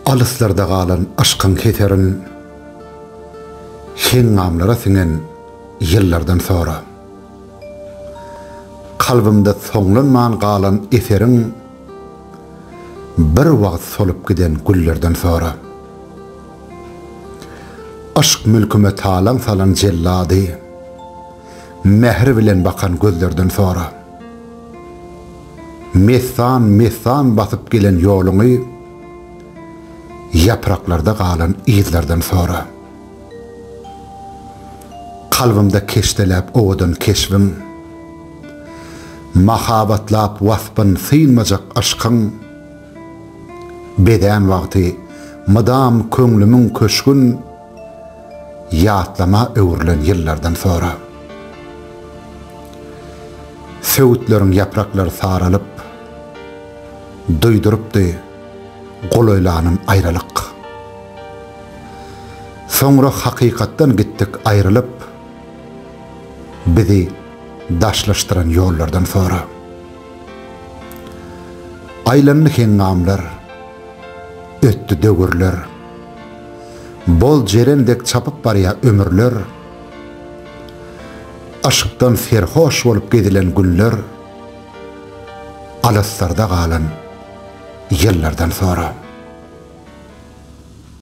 Alyslarda galan yşkyň heserin Heňňamlara siňen ýyllardan sora. Kalbymda soňlanman galan eseriň Bir wagt solup giden güllerden sora. Yşk mülküme talaň salan jellady Mähir bilen bakan gözlerden sora. Messan-messan basyp gelen ýoluňy ýapraklarda galan yzlardan sora. Kalbymda keşdeläp owadan keşbiň, mahabatlap waspyn synmajak yşkyň bezän wagty mydam köňlümiň köşgün ýatlama öwrülen ýyllardan sonra, söwütleriň ýapraklary saralyp, duýdurypdy golaýlanym aýralyk. Soňra hakykatdan gitdik aýrylyp, bizi daşlaşdyran ýollardan sonra. Aýlandy heňňamlar, ötdi döwürler. Bol jeren dek çapyp barýa ömürler, Yşkdan serhoş bolup gezilen günler, Alyslarda galan ýyllardan sora.